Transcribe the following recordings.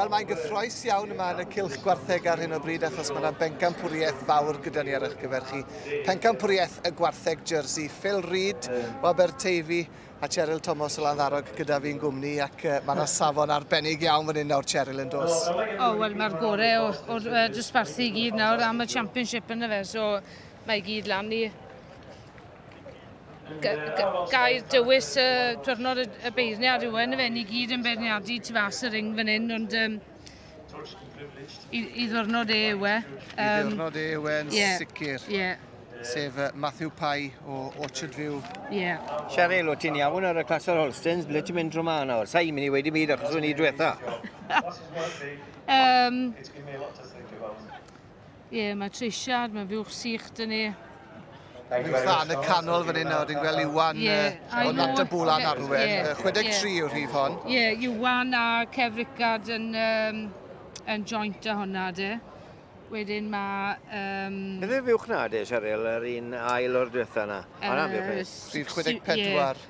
Wel, mae'n gyffroes iawn yma yn y cylch gwartheg ar hyn o bryd achos mae yna bencampwriaeth fawr gyda ni ar eich gyfer chi. Pencampwriaeth y gwartheg jersey. Phil Reid o Aberteifi a Cheryl Thomas o Landdarog gyda fi'n gwmni ac uh, mae yna safon arbennig iawn fan hyn nawr, Cheryl, yn dos. O, oh, wel, mae'r gorau o'r, or, uh, dosbarthu i gyd nawr am y championship yn y fe, so mae i gyd lan i gair dywys y diwrnod y beirniad yw yn y fe, ni gyd yn beirniadu tu fas y ring fan hyn, ond um, i, i ddwrnod e yw e. Um, I ddwrnod e yw e'n yeah, sicr. Yeah. Sef uh, Matthew Pye o Orchard View. Yeah. Cheryl, o ti'n iawn ar y clas o'r Holstens, ble ti'n mynd drwy ma nawr? Sa'i mynd i wedi byd achos o'n i diwetha. um, Ie, mae treisiad, mae fuwch sych dyn ni. Fi'n dda yn y canol fan hyn nawr, dwi'n gweld Iwan yeah, uh, o Nant y Bwl a'n arwen. Yeah, 63 yeah. yw'r rhif hon. Ie, yeah, Iwan a Kev Rickard yn, um, yn joint a hwnna, de. Wedyn mae... Um, Beth yw'r fuwch na, de, Cheryl, yr un ail o'r diwetha yna? Uh, Anna, fuwch ni. Rhif 64. Ie,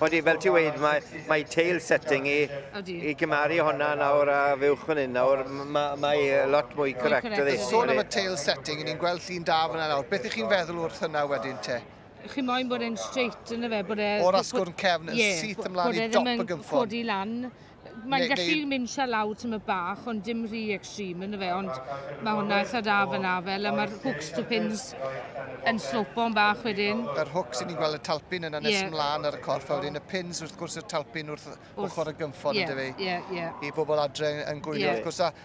Odi, fel ti wedi, mae, mae tail setting i, i gymaru honna nawr a fywch fan hyn nawr, mae, mae lot mwy correct ydi. Sôn am y tail setting, ni'n gweld llun da fyna nawr. Beth ych chi'n feddwl wrth hynna wedyn te? Chi moyn bod e'n straight yn y fe, bod e... O'r asgwrn cefn yn yeah, syth ymlaen i dop y gynffon. Bod e ddim yn codi lan, Mae'n gallu mynd sia lawr tymed bach ond dim rhy extreme yn y fe ond mae hwnna eitha da fyna fel a mae'r hooks to pins yn slopo yn bach wedyn. Yr hooks i ni'n gweld y talpin yna nes yeah. mlaen ar y corff a wedyn y pins wrth gwrs y talpin wrth ochr y gymffon ydy fe. Ie, ie. I bobl adre yn gwylio yeah. wrth gwrs a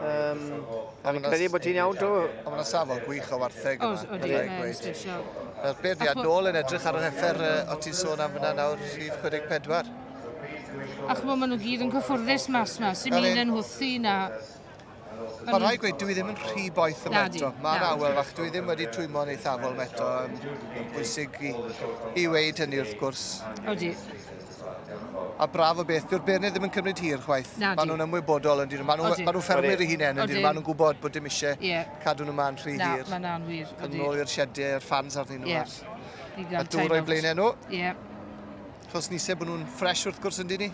Um, Fi'n credu bod ti'n iawn, Drew. Ond mae'n safon gwych o wartheg yma. Os, oeddi, mae'n sbesial. Wel, beth fi nôl yn edrych ar yr heffer o ti'n sôn am fyna nawr, rhif 44. A chymod, maen nhw gyd yn cyffwrddus mas yma, sy'n mynd yn hwthi na. Mae rhai gweud, dwi ddim yn rhy boeth yma eto. Mae'n awel fach, dwi ddim wedi twymon eithafol yma eto. Mae'n bwysig i, i weid hynny wrth gwrs. Odi. A braf o beth, dyw'r beirniaid ddim yn cymryd hir chwaith. Nadi. Maen nhw'n ymwybodol yn dyn, maen nhw, maen nhw ffermwyr i hunain yn dyn, maen nhw'n gwybod bod dim eisiau yeah. cadw nhw ma'n rhy hir. Na, maen nhw'n wir. Yn ôl i'r siedau, a'r ffans arnyn nhw. Yeah. Ar, a dŵr o'i blaenau nhw. Yeah. Chos ni se bod nhw'n ffres wrth gwrs yn dyn ni.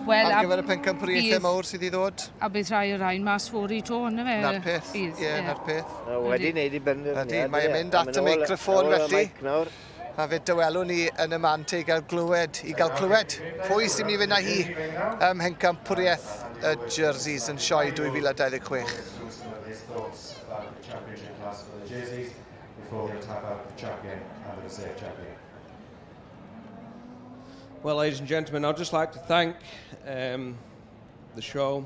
Wel, ar gyfer y pencampwriaethau mawr sydd i ddod. A bydd rhai o'r rhain mas fawr i to, yna fe? Na'r peth, ie, yeah, yeah. na'r peth. No, wedi wneud i benderfyniad. Ydy, mae'n mynd at y meicrofon felly. A fe dywelwn ni yn y man te i gael glywed, i gael clywed pwy sy'n mynd i fynd â hi ym mhencampwriaeth y Jerseys yn sioe 2026. before he'll tap out the champion and the reserve champion. Well, ladies and gentlemen, I'd just like to thank um, the show.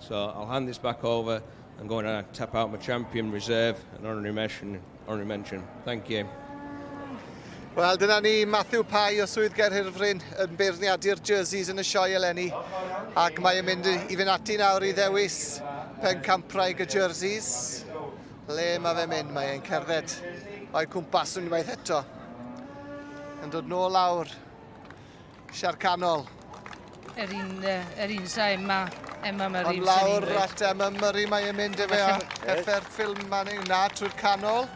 So I'll hand this back over and go and tap out my champion reserve and honorary mention. Honorary mention. Thank you. Wel, dyna ni Matthew Pai o Swydd Gerhirfryn yn beirniadu'r jerseys yn y sioe eleni. Ac mae'n mynd i fynd ati nawr i ddewis pen campraeg y jerseys. Le mae fe mynd? Mae e'n cerdded o'i cwmpas unwaith eto. Yn dod nôl lawr Siar canol. Yr un, uh, yr un sa Emma, Emma Murray. Ond lawr at Emma Murray mae e'n mynd efe a heffer ffilm man yw na trwy'r canol.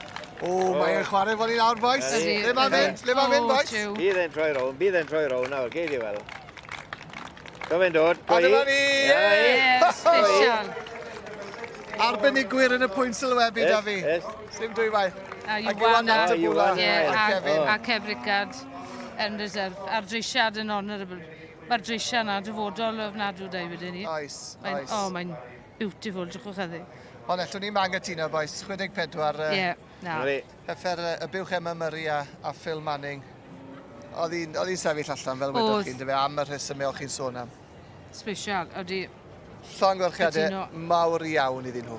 O, oh. mae e'n chwarae fod i'n awr, boys. Le mae'n mynd, le mae'n mynd, boys. Bydd e'n troi rown, bydd e'n troi rown nawr, geid i weld. Do fe'n dod, go i. A dyma ni! Ie, special. Arbenigwyr yn y pwynt sylwebu, da fi. Yes, yes. Sim dwywaith. A Iwan a Tabula. A Kevin. A Kev Rickard yn reserve. A'r dreisiad yn honourable. Mae'r dreisiad yna dyfodol o ofnadw da i wedi ni. Oes, oes. O, mae'n beautiful, drwchwch eddi. Ond eto, ni'n ma'n gytuno, boes. 64. Ie, yeah, na. Hyffer y buwch Emma Murray a, a Phil Manning. Oedd hi'n sefyll allan fel wedoch chi'n dyfe, am y rhesymau o'ch chi'n sôn am. Sbesial, ydy. Llongyfarchiadau Cytuno. mawr iawn iddyn nhw.